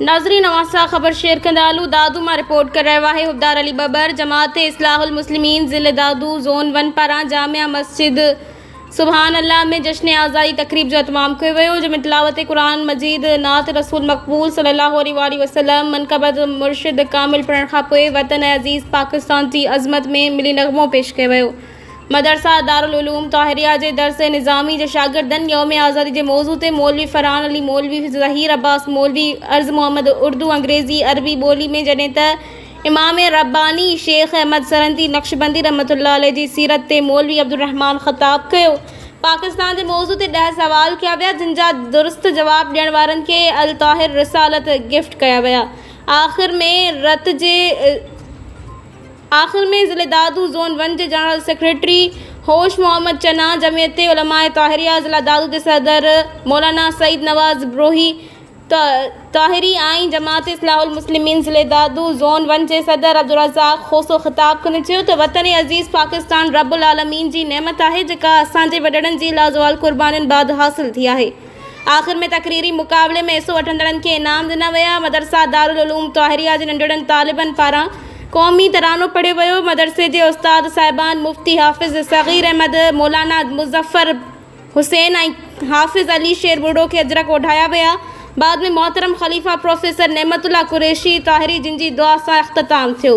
ناظرين اوهان سان خبر شيئر ڪندا هلون دادو مان رپورٽ ڪري رهيو آهي حبدار علي ٻٻر جماعت اصلاح المسلمين ضلع دادو زون ون پاران جامع مسجد سبحان الله ۾ جشن اعزائي تقريب جو اهتمام ڪيو ويو جنهن ۾ تلاوت قرآن مجيد نعت رسول مقبول صلي الله عليه واٰله وسلم منقبت مرشد ڪامل پڙهڻ کانپوء وطن عزيز پاڪستان جي عظمت ۾ ملي نغمو پيش ڪيو ويو مدرسه دارالعلوم طاهريه جي درس نظامي جي شاگردن يوم آزادي جي موضوع تي مولوي فرحان علي مولوي ظهير عباس مولوي عرض محمد اردو انگريزي عربي ٻولي ۾ جڏهن ته امام رباني شيخ احمد سرهندي نقشبندي رحمة الله عليه جي سيرت تي مولوي عبدالرحمان خطاب ڪيو. پاڪستان جي موضوع تي ڏهه سوال ڪيا ويا جن جا درست جواب ڏيڻ وارن کي الطاهر رسالت گفٽ ڪيا ويا آخر ۾ رت جي آخر ۾ ضلعي دادو زون ون جي جنرل سيڪريٽري هوش محمد چنا، جمعيت علماء طاهريه ضلعي دادو جي صدر مولانا سعيد نواز بروهي، طاهري آئين جماعت اصلاح المسلمين ضلعي دادو زون ون جي صدر عبدالرزاق کوسو خطاب ڪندي چيو ته وطن عزيز پاڪستان رب العالمين جي نعمت آهي جيڪا اسان جي وڏڙن جي لازوال قربانين بعد حاصل ٿي آهي. آخر ۾ تقريري مقابلي ۾ حصو وٺندڙن کي انعام ڏنا ويا. مدرسه دارالعلوم طاهريه جي ننڍڙن طالبن پاران قومي ترانو پڙهيو ويو. مدرسي جي استاد صاحبان مفتي حافظ صغير احمد، مولانا مظفر حسين ۽ حافظ علي شير ٻرڙو کي اجرڪ اوڍايا ويا. بعد ۾ محترم خليفه پروفيسر نعمت الله قريشي طاهري جن جي دعا سان اختتام ٿيو.